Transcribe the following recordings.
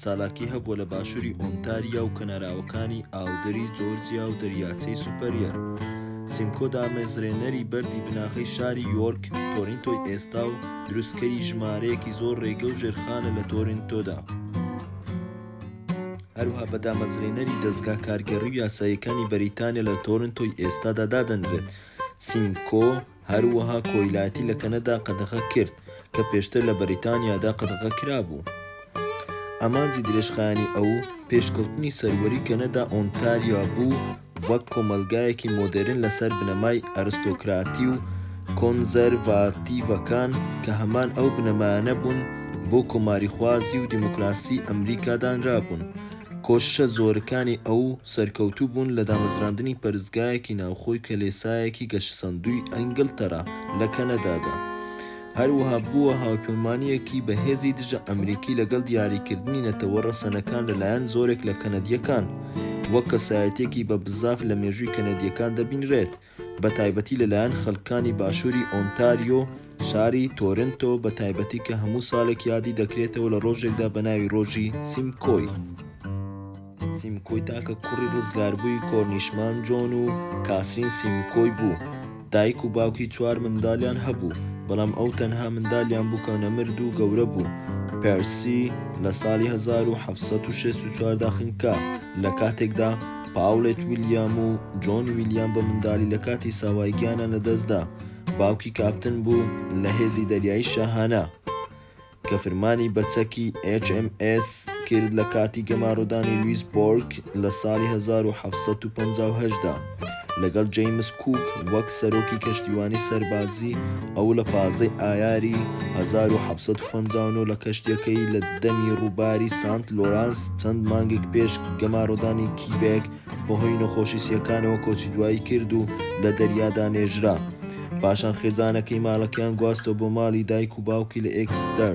چالاکی هەبووە لە باشووری ئۆنتاریا و کەناراوەکانی ئاودەری جۆرجیا و دەریاچەی سوپەریەر سیمکۆ دامەزرێنەری بەردی بناغەی شاری یۆرک تۆرینتۆی ئێستا و دروستکەری ژمارەیەکی زۆر ڕێگە و ژێرخانە لە تۆرینتۆدا هەروها بە دامەزرێنەری دەزگا کارگێڕی و یاساییەکانی بەریتانیا لە تۆرنتۆی ئێستادا دادەنرێت سیمکۆ هەروەها کۆیلایەتی لە کەنەدا قەدەغە کرد، کە پێشتر لە بەریتانیادا قەدەغە کرابوو. ئامانجی درێژخایەنی ئەو، پێشکەوتنی سەروەری کەنەدا ئۆنتاریا بوو وەک کۆمەڵگایەکی مۆدێرن لەسەر بنەمای ئەرستۆکراتی و کۆنزەرڤاتیڤەکان، کە هەمان ئەو بنەمایانە بوون بۆ کۆماریخوازی و دیموکراسیی ئەمریکا دانرابوون. کۆششە زۆرکانی ئەو، سەرکەوتوو بوون لە دامەزراندنی پەرستگایەکی ناوخۆی کەلێسایەکی گەشەسەندووی ئەنگلتەرا لە کەنەدادا. هەروەها بووە هاوپەیمانییەکی بەهێزی دژە ئەمریکی لەگەڵ دیاریکردنی نەتەوە ڕەسەنەکان لەلایەن زۆرێک لە کەنەدییەکان، وەک کەسایەتییەکی بە بزاف لە مێژووی کەنەدییەکان دەبینرێت. بە تایبەتی لە لایەن خەلکانی باشوری ئۆنتاریۆ شاری تۆرنتۆ بە تایبەتی کە هەموو سالێک یادی دەکرێتەوە لە رۆژێکدا بە ناوی رۆژی سیمکۆی سیمکۆی تاکە کوڕی رزگاربووی کۆرنیشمان جۆن و کاسرین سیمکۆی بوو دایک و باوکی چوار مندالیان هەبوو بەڵام ئەو تەنها مندالیان بوو کە نەمرد و گەورە بوو پێرسی لە سالی هەزار و حەفت سەد و شەست و چوار دا خنکا لە کاتێکدا پاولێت ویلیام و جۆن ویلیام بە مندالی لە کاتی ساوای گیانیان لە دەست دا، باوکی کاپتن بوو لە هێزی دەریایی شاهانە کە فرمانی بە چەکی HMS کرد لە کاتی گەمارۆدانی لویسبۆرگ لە ساڵی هەزار و حەفت سەد و پەنجا و هەشت دا لەگەڵ جەیمس کووک وەک سەرۆکی کەشتیوانی سەربازی ئەو لە پازدە ی ئایاری هەزار و حەفت سەد و پەنجا و نۆ لە کەشتیەکەی لە دەمی ڕووباری سانت لۆرانس چەند مانگێک پێش گەمارۆدانی کیبێک بەهۆی نەخۆشی سیەکانەوە کۆچی دوایی کرد و لە دەریادا نێژرا. پاشان خێزانەکەی مالەکەیان گواستەوە بۆ ماڵی دایک و باوکی لە ئێکستەر.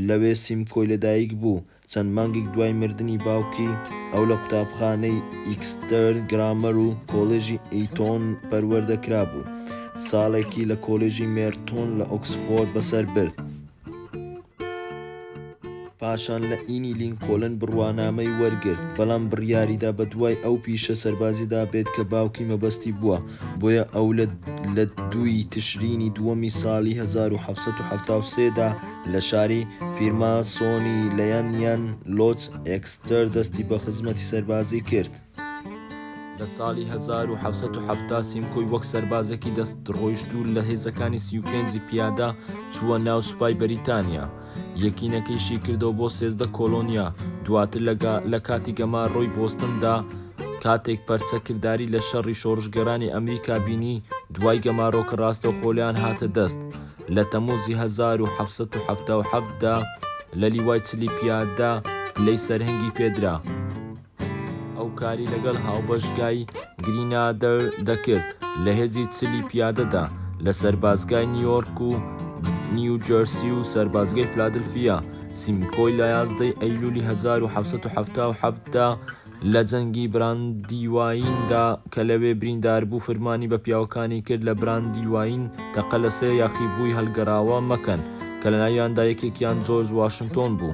لەوێ سیمکۆی لەدایک بوو. چەند مانگێک دوای مردنی باوکی، ئەو لە قوتابخانەی ئیکستەر گرامەر و کۆلێژی ئیتۆن پەروەردە کرابوو. ساڵێکی لە کۆلێژی مێرتۆن لە ئۆکسفۆرد بەسەر برد. پاشان لە ئینی لینکۆلن بڕوانامەی وەرگرت، بەڵام بڕیاریدا بەدوای ئەو پیشە سەربازیدا بێت کە باوکی مەبەستی بووە، بۆیە ئەو لە دوو ی تشرینی دووەمی ساڵی هەزار و حەڤ سەد و حەفتا و سێ دا لە شاری، فیرماسۆنی لەیەن یان لۆتس ئێکستەر، دەستی بە خزمەتی سەربازی کرد. لە ساڵی هەزار و حەفسەت و حەفتا سیمکۆی وەک سەربازێکی دەست ڕۆیشتوو لە هێزەکانی سی و پێنجی پیادە چووە ناو سوپای بەریتانیا یەکینەکەی شی کردەوە بۆ سێزدە کۆلۆنیا دواتر لەگا لە کاتی گەمار ڕۆی بۆستندا کاتێک پەرچە کردداری لە شەڕی شۆڕشگەرانی ئەمریکا بینی دوای گەمارۆکە ڕاستە خۆلیان هاتە دەست لە تەموزی 1970دا لە لیوای چلی پیادە لەی سەرهنگی پێدرا. ئەو کاری لەگەڵ هاوبەشگای گرینادەر دەکرد لە هێزی چلی پیادەدا لە سەربازگای نیویۆرک و نیوجەرسی و سەربازگەی فلادلفیا. سیمکۆی لە ١١ ی ئەیلولی ١ۊ٧٧ دا لە جەنگی براندیوایندا کە لەوێ برینداربوو فرمانی بە پیاوەکانی کرد لە براندیواین تەقە لە سێ یاخیبووی هەڵگەڕاوە مەکەن کە لەناویاندا یەکێکیان جۆرج واشنتۆن بوو.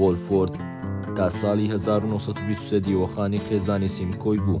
وۆلفۆرد تا ساڵی هەزار و نۆ سەد و بیست و سێ دیوەخانی خێزانی سیمکۆی بوو.